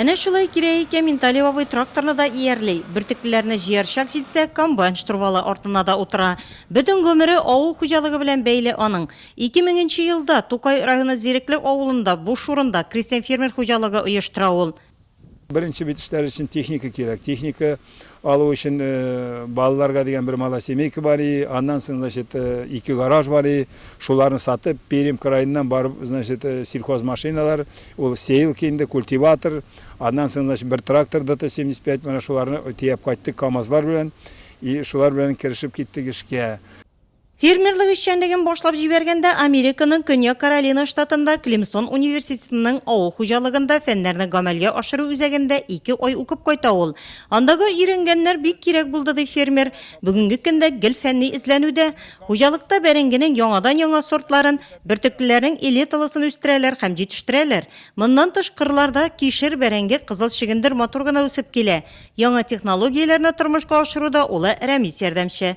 Әнә шулай кирәк икән, Минталип абый тракторны да иярли, бөртеклеләрне җыяр чак җитсә, комбайн штурвалы артына да утыра. Бөтен гомере авыл хуҗалыгы белән бәйле аның. Ике меңенче елда Тукай районы Зирекле авылында буш урында крестьян-фермер хуҗалыгы оештыра ул. Беренче бит эшләр өчен техника кирәк. Техника алу өчен балаларга дигән бер малосемейка бар и, аннан соң, значит, ике гараж бар и, шуларны сатып, Пермь краеннан барып, значит, сельхозмашиналар, ул сеялка инде, культиватор, аннан соң, значит, бер трактор ДТ-75, менә шуларны төяп кайттык КАМАЗлар белән и шулар белән керешеп киттек эшкә. Фермерлык эшчәнлеген башлап җибәргәндә Американың Көньяк Каролина штатында Клемсон университетының авыл хуҗалыгында фәннәрне гамәлгә ашыру үзәгендә ике ай укып кайта ул. Андагы өйрәнгәннәр бик кирәк булды, ди фермер. Бүгенге көндә гел фәнни эзләнүдә. Хуҗалыкта бәрәңгенең яңадан-яңа сортларын, бөртеклеләрнең элиталысын үстерәләр һәм җитештерәләр. Моннан тыш, кырларда кишер, бәрәңге, кызыл чөгендер матур гына үсеп килә. Яңа технологияләрне тормышка ашыруда улы Рәмис ярдәмче.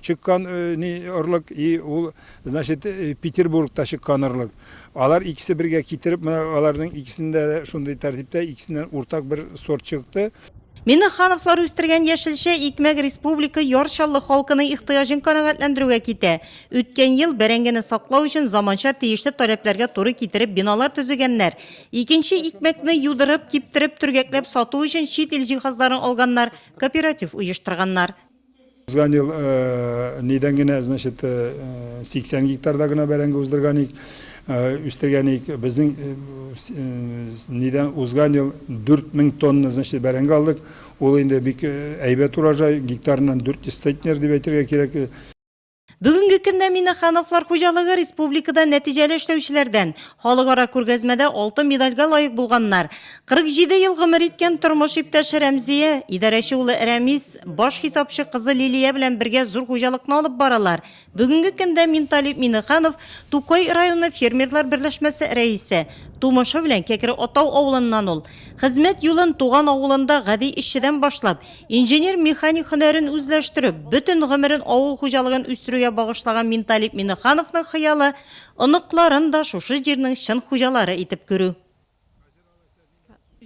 чыккан ни орлык и ул значит петербургта чыккан орлык алар икесе бергә китереп менә аларның икесендә дә шундый тәртиптә икесеннән уртак бер сорт чыкты Миннехановлар үстергән яшелчә, икмәк республика Яр Чаллы халкының ихтыяҗын канәгатьләндерүгә китә. Үткән ел, бәрәңгене саклау өчен заманча тиешле таләпләргә туры китереп биналар төзегәннәр. Икенче икмәкне юдырып, киптереп, төргәкләп сату өчен чит ил җиһазларын алганнар, кооператив оештырганнар. Узган ел нидән генә, значит, 80 гектарда гына бәрәңге уздырган ик, үстергән ик. Безнең нидән узган ел 4000 тонна, значит, бәрәңге алдык. Ул инде бик әйбәт урожай, гектарыннан 400 центнер дип әйтергә кирәк. Бүгенге көндә Минахановлар хуҗалыгы республикада нәтиҗәле эшләүчеләрдән. Халыкара күргәзмәдә алтын медальгә лаек булганнар. 47 ел гомер иткән тормыш иптәше Рәмзия, идарәче улы Рәмис, баш хисапчы кызы Лилия белән бергә зур хуҗалыкны алып баралар. Бүгенге көндә Минталип Минеханов Тукай районы фермерлар берләшмәсе рәисе. Тумышы белән Кәкре Атау авылыннан ул. Хезмәт юлын туган авылында гади эшчедән башлап, Инженер-механик һөнәрен үзләштереп, бөтен гомерен авыл хуҗалыгын үстерүгә багышлаган Минталип Минехановның хыялы, оныкларын да шушы җирнең чын хуҗалары итеп күрү.